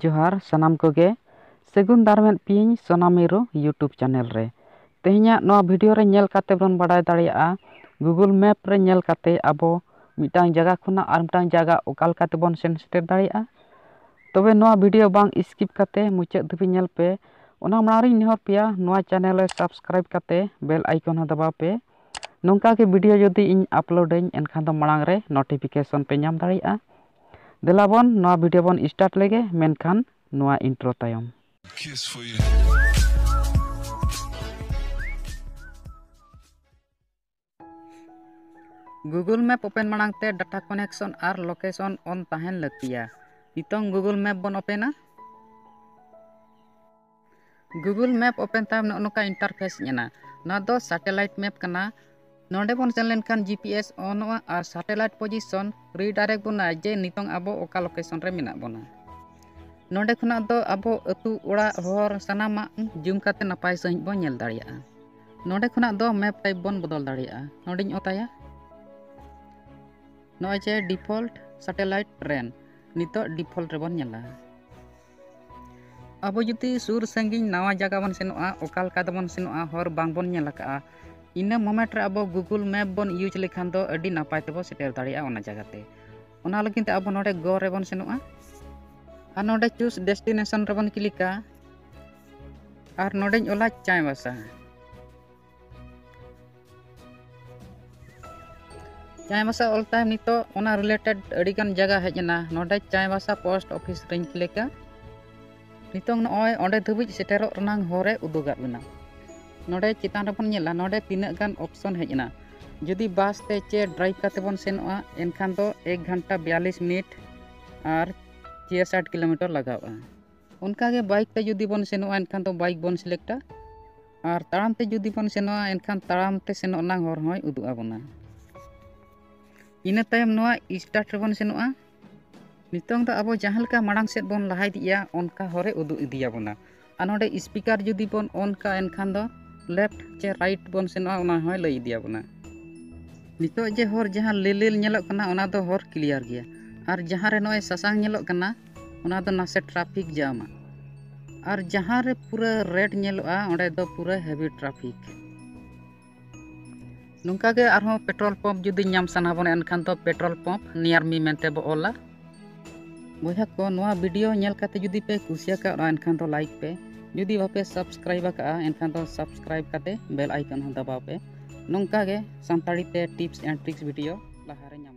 ᱡᱚᱦᱟᱨ ᱥᱟᱱᱟᱢ ᱠᱚᱜᱮ ᱥᱟᱹᱜᱩᱱ ᱫᱟᱨᱟᱢ ᱮᱫ ᱯᱮᱭᱟᱹᱧ ᱥᱚᱱᱟ ᱢᱤᱨᱩ ᱤᱭᱩᱴᱩᱵᱽ ᱪᱮᱱᱮᱞ ᱨᱮ ᱛᱮᱦᱮᱧᱟᱜ ᱱᱚᱣᱟ ᱵᱷᱤᱰᱤᱭᱳ ᱨᱮ ᱧᱮᱞ ᱠᱟᱛᱮ ᱵᱚᱱ ᱵᱟᱰᱟᱭ ᱫᱟᱲᱮᱭᱟᱜᱼᱟ ᱜᱩᱜᱩᱞ ᱢᱮᱯ ᱨᱮ ᱧᱮᱞ ᱠᱟᱛᱮ ᱟᱵᱚ ᱢᱤᱫᱴᱟᱝ ᱡᱟᱭᱜᱟ ᱠᱷᱚᱱᱟᱜ ᱟᱨ ᱢᱤᱫᱴᱟᱝ ᱡᱟᱭᱜᱟ ᱚᱠᱟ ᱞᱮᱠᱟ ᱛᱮᱵᱚᱱ ᱥᱮᱱ ᱥᱮᱴᱮᱨ ᱫᱟᱲᱮᱭᱟᱜᱼᱟ ᱛᱚᱵᱮ ᱱᱚᱣᱟ ᱵᱷᱤᱰᱤᱭᱳ ᱵᱟᱝ ᱥᱠᱤᱯ ᱠᱟᱛᱮ ᱢᱩᱪᱟᱹᱫ ᱫᱷᱟᱹᱵᱤᱡ ᱧᱮᱞ ᱯᱮ ᱚᱱᱟ ᱢᱟᱲᱟᱝ ᱨᱤᱧ ᱱᱮᱦᱚᱨ ᱯᱮᱭᱟ ᱱᱚᱣᱟ ᱪᱮᱱᱮᱞ ᱨᱮ ᱥᱟᱵᱥᱠᱨᱟᱭᱤᱵᱽ ᱠᱟᱛᱮ ᱵᱮᱞ ᱟᱭᱠᱚᱱ ᱦᱚᱸ ᱫᱟᱵᱟᱣ ᱯᱮ ᱱᱚᱝᱠᱟ ᱜᱮ ᱵᱷᱤᱰᱤᱭᱳ ᱡᱩᱫᱤ ᱤᱧ ᱟᱯᱞᱳᱰ ᱟᱹᱧ ᱮᱱᱠᱷᱟᱱ ᱫᱚ ᱢᱟᱲᱟᱝ ᱨᱮ ᱱᱳᱴᱤᱯᱷᱤᱠᱮᱥᱚᱱ ᱯᱮ ᱧᱟᱢ ᱫᱟᱲᱮᱭᱟᱜᱼᱟ ᱫᱮᱞᱟ ᱵᱚᱱ ᱱᱚᱣᱟ ᱵᱷᱤᱰᱤᱭᱳ ᱵᱚᱱ ᱥᱴᱟᱨᱴ ᱞᱮᱜᱮ ᱢᱮᱱᱠᱷᱟᱱ ᱱᱚᱣᱟ ᱤᱱᱴᱨᱳ ᱛᱟᱭᱚᱢ ᱜᱩᱜᱩᱞ ᱢᱮᱯ ᱳᱯᱮᱱ ᱢᱟᱲᱟᱝ ᱛᱮ ᱰᱟᱴᱟ ᱠᱚᱱᱮᱠᱥᱚᱱ ᱟᱨ ᱞᱳᱠᱮᱥᱚᱱ ᱚᱱ ᱛᱟᱦᱮᱱ ᱞᱟᱹᱠᱛᱤᱭᱟ ᱱᱤᱛᱚᱝ ᱜᱩᱜᱩᱞ ᱢᱮᱯ ᱵᱚᱱ ᱳᱯᱮᱱᱟ ᱜᱩᱜᱩᱞ ᱢᱮᱯ ᱳᱯᱮᱱ ᱛᱟᱢ ᱱᱚᱜᱼᱚ ᱱᱚᱝᱠᱟ ᱤᱱᱴᱟᱨᱯᱷᱮᱥ ᱦᱮᱡ ᱮᱱᱟ ᱱᱚᱣᱟ ᱫᱚ ᱥᱮᱴᱮᱞᱟᱭᱤᱴ ᱢᱮᱯ ᱠᱟᱱᱟ ᱱᱚᱰᱮ ᱵᱚᱱ ᱥᱮᱱ ᱞᱮᱱᱠᱷᱟᱱ ᱡᱤ ᱯᱤ ᱮᱥ ᱚᱱᱚᱜᱼᱟ ᱟᱨ ᱥᱮᱴᱮᱞᱟᱭᱤᱴ ᱯᱚᱡᱤᱥᱚᱱ ᱨᱤᱰᱟᱭᱨᱮᱠᱴ ᱵᱚᱱᱟ ᱡᱮ ᱱᱤᱛᱚᱝ ᱟᱵᱚ ᱚᱠᱟ ᱞᱳᱠᱮᱥᱚᱱ ᱨᱮ ᱢᱮᱱᱟᱜ ᱵᱚᱱᱟ ᱱᱚᱰᱮ ᱠᱷᱚᱱᱟᱜ ᱫᱚ ᱟᱵᱚ ᱟᱹᱛᱩ ᱚᱲᱟᱜ ᱦᱚᱨ ᱥᱟᱱᱟᱢᱟᱜ ᱡᱩᱢ ᱠᱟᱛᱮ ᱱᱟᱯᱟᱭ ᱥᱟᱺᱦᱤᱡ ᱵᱚᱱ ᱧᱮᱞ ᱫᱟᱲᱮᱭᱟᱜᱼᱟ ᱱᱚᱰᱮ ᱠᱷᱚᱱᱟᱜ ᱫᱚ ᱢᱮᱯ ᱴᱟᱭᱤᱯ ᱵᱚᱱ ᱵᱚᱫᱚᱞ ᱫᱟᱲᱮᱭᱟᱜᱼᱟ ᱱᱚᱰᱮᱧ ᱚᱛᱟᱭᱟ ᱱᱚᱜᱼᱚᱭ ᱡᱮ ᱰᱤᱯᱷᱚᱞᱴ ᱥᱮᱴᱮᱞᱟᱭᱤᱴ ᱨᱮᱱ ᱱᱤᱛᱚᱜ ᱰᱤᱯᱷᱚᱞᱴ ᱨᱮᱵᱚᱱ ᱧᱮᱞᱟ ᱟᱵᱚ ᱡᱩᱫᱤ ᱥᱩᱨ ᱥᱟᱺᱜᱤᱧ ᱱᱟᱣᱟ ᱡᱟᱭᱜᱟ ᱵᱚᱱ ᱥᱮᱱᱚᱜᱼᱟ ᱚᱠᱟ ᱞᱮᱠᱟ ᱛᱮᱵᱚᱱ ᱥᱮᱱᱚᱜᱼᱟ ᱦᱚᱨ ᱵᱟᱝᱵᱚᱱ ᱧᱮᱞ ᱟᱠᱟᱫᱼᱟ ᱤᱱᱟᱹ ᱢᱳᱢᱮᱱᱴ ᱨᱮ ᱟᱵᱚ ᱜᱩᱜᱩᱞ ᱢᱮᱯ ᱵᱚᱱ ᱤᱭᱩᱡᱽ ᱞᱮᱠᱷᱟᱱ ᱫᱚ ᱟᱹᱰᱤ ᱱᱟᱯᱟᱭ ᱛᱮᱵᱚᱱ ᱥᱮᱴᱮᱨ ᱫᱟᱲᱮᱭᱟᱜᱼᱟ ᱚᱱᱟ ᱡᱟᱭᱜᱟ ᱛᱮ ᱚᱱᱟ ᱞᱟᱹᱜᱤᱫ ᱛᱮ ᱟᱵᱚ ᱱᱚᱰᱮ ᱜᱚ ᱨᱮᱵᱚᱱ ᱥᱮᱱᱚᱜᱼᱟ ᱟᱨ ᱱᱚᱰᱮ ᱪᱩᱥ ᱰᱮᱥᱴᱤᱱᱮᱥᱚᱱ ᱨᱮᱵᱚᱱ ᱠᱞᱤᱠᱟ ᱟᱨ ᱱᱚᱰᱮᱧ ᱚᱞᱟ ᱪᱟᱭᱵᱟᱥᱟ ᱪᱟᱭᱵᱟᱥᱟ ᱚᱞ ᱛᱟᱭᱚᱢ ᱱᱤᱛᱚᱜ ᱚᱱᱟ ᱨᱤᱞᱮᱴᱮᱰ ᱟᱹᱰᱤᱜᱟᱱ ᱡᱟᱭᱜᱟ ᱦᱮᱡ ᱮᱱᱟ ᱱᱚᱰᱮ ᱪᱟᱭᱵᱟᱥᱟ ᱯᱳᱥᱴ ᱚᱯᱷᱤᱥ ᱨᱮᱧ ᱠᱞᱤᱠᱟ ᱱᱤᱛᱚᱝ ᱱᱚᱜᱼᱚᱭ ᱚᱸᱰᱮ ᱫᱷᱟᱹᱵᱤᱡ ᱥᱮᱴᱮᱨᱚᱜ ᱨᱮᱱᱟᱝ ᱦᱚᱨᱮ ᱩᱫᱩᱜᱟᱫ ᱵᱮᱱᱟ ᱱᱚᱰᱮ ᱪᱮᱛᱟᱱ ᱨᱮᱵᱚᱱ ᱧᱮᱞᱟ ᱱᱚᱰᱮ ᱛᱤᱱᱟᱹᱜ ᱜᱟᱱ ᱚᱯᱥᱚᱱ ᱦᱮᱡ ᱮᱱᱟ ᱡᱩᱫᱤ ᱵᱟᱥ ᱛᱮ ᱪᱮ ᱰᱨᱟᱭᱤᱵᱷ ᱠᱟᱛᱮ ᱵᱚᱱ ᱥᱮᱱᱚᱜᱼᱟ ᱮᱱᱠᱷᱟᱱ ᱫᱚ ᱮᱠ ᱜᱷᱚᱱᱴᱟ ᱵᱤᱭᱟᱞᱤᱥ ᱢᱤᱱᱤᱴ ᱟᱨ ᱪᱮ ᱥᱟᱴ ᱠᱤᱞᱳᱢᱤᱴᱟᱨ ᱞᱟᱜᱟᱜᱼᱟ ᱚᱱᱠᱟᱜᱮ ᱵᱟᱭᱤᱠ ᱛᱮ ᱡᱩᱫᱤ ᱵᱚᱱ ᱥᱮᱱᱚᱜᱼᱟ ᱮᱱᱠᱷᱟᱱ ᱫᱚ ᱵᱟᱭᱤᱠ ᱵᱚᱱ ᱥᱤᱞᱮᱠᱴᱟ ᱟᱨ ᱛᱟᱲᱟᱢ ᱛᱮ ᱡᱩᱫᱤ ᱵᱚᱱ ᱥᱮᱱᱚᱜᱼᱟ ᱮᱱᱠᱷᱟᱱ ᱛᱟᱲᱟᱢ ᱛᱮ ᱥᱮᱱᱚᱜ ᱨᱮᱱᱟᱜ ᱦᱚᱨ ᱦᱚᱸᱭ ᱩᱫᱩᱜ ᱟᱵᱚᱱᱟ ᱤᱱᱟᱹ ᱛᱟᱭᱚᱢ ᱱᱚᱣᱟ ᱥᱴᱟᱨᱴ ᱨᱮᱵᱚᱱ ᱥᱮᱱᱚᱜᱼᱟ ᱱᱤᱛᱚᱝ ᱫᱚ ᱟᱵᱚ ᱡᱟᱦᱟᱸ ᱞᱮᱠᱟ ᱢᱟᱲᱟᱝ ᱥᱮᱫ ᱵᱚᱱ ᱞᱟᱦᱟ ᱤᱫᱤᱜᱼᱟ ᱚᱱᱠᱟ ᱦᱚᱨᱮ ᱩᱫᱩᱜ ᱤᱫᱤᱭᱟᱵᱚᱱᱟ ᱟᱨ ᱱᱚᱰᱮ ᱥᱯᱤᱠᱟᱨ ᱡᱩᱫᱤ ᱵᱚᱱ ᱚᱱ ᱠᱟᱜᱼᱟ ᱮᱱᱠᱷᱟᱱ ᱫᱚ ᱞᱮᱯᱷᱴ ᱪᱮ ᱨᱟᱭᱤᱴ ᱵᱚᱱ ᱥᱮᱱᱚᱜᱼᱟ ᱚᱱᱟ ᱦᱚᱸᱭ ᱞᱟᱹᱭ ᱤᱫᱤᱭᱟᱵᱚᱱᱟ ᱱᱤᱛᱚᱜ ᱡᱮ ᱦᱚᱨ ᱡᱟᱦᱟᱸ ᱞᱤᱞ ᱞᱤᱞ ᱧᱮᱞᱚᱜ ᱠᱟᱱᱟ ᱚᱱᱟ ᱫᱚ ᱦᱚᱨ ᱠᱞᱤᱭᱟᱨ ᱜᱮᱭᱟ ᱟᱨ ᱡᱟᱦᱟᱸ ᱨᱮ ᱱᱚᱜᱼᱚᱭ ᱥᱟᱥᱟᱝ ᱧᱮᱞᱚᱜ ᱠᱟᱱᱟ ᱚᱱᱟ ᱫᱚ ᱱᱟᱥᱮ ᱴᱨᱟᱯᱷᱤᱠ ᱡᱟᱢᱟ ᱟᱨ ᱡᱟᱦᱟᱸ ᱨᱮ ᱯᱩᱨᱟᱹ ᱨᱮᱰ ᱧᱮᱞᱚᱜᱼᱟ ᱚᱸᱰᱮ ᱫᱚ ᱯᱩᱨᱟᱹ ᱦᱮᱵᱤ ᱴᱨᱟᱯᱷᱤᱠ ᱱᱚᱝᱠᱟ ᱜᱮ ᱟᱨᱦᱚᱸ ᱯᱮᱴᱨᱳᱞ ᱯᱟᱢᱯ ᱡᱩᱫᱤ ᱧᱟᱢ ᱥᱟᱱᱟ ᱵᱚᱱᱟ ᱮᱱᱠᱷᱟᱱ ᱫᱚ ᱯᱮᱴᱨᱳᱞ ᱯᱟᱢᱯ ᱱᱤᱭᱟᱨ ᱢᱤ ᱢᱮᱱᱛᱮ ᱵᱚ ᱚᱞᱟ ᱵᱚᱭᱦᱟ ᱠᱚ ᱱᱚᱣᱟ ᱵᱷᱤᱰᱤᱭᱳ ᱧᱮᱞ ᱠᱟᱛᱮ ᱡᱩᱫᱤ ᱯᱮ ᱠᱩᱥᱤᱭᱟᱠᱟᱜᱼᱟ ᱮᱱᱠᱷᱟᱱ ᱫᱚ ᱞᱟᱭᱤᱠ ᱯᱮ ᱡᱩᱫᱤ ᱵᱟᱯᱮ ᱥᱟᱵᱥᱠᱨᱟᱭᱤᱵ ᱟᱠᱟᱜᱼᱟ ᱮᱱᱠᱷᱟᱱ ᱫᱚ ᱥᱟᱵᱥᱠᱨᱟᱭᱤᱵ ᱠᱟᱛᱮ ᱵᱮᱞ ᱟᱭᱠᱚᱱ ᱦᱚᱸ ᱫᱟᱵᱟᱣ ᱯᱮ ᱱᱚᱝᱠᱟ ᱜᱮ ᱥᱟᱱᱛᱟᱲᱤ ᱛᱮ ᱴᱤᱯᱥ ᱮᱱᱰ ᱴᱨᱤᱠᱥ ᱵᱷᱤᱰᱤᱭᱳ ᱞᱟᱦᱟᱨᱮ ᱧᱟᱢ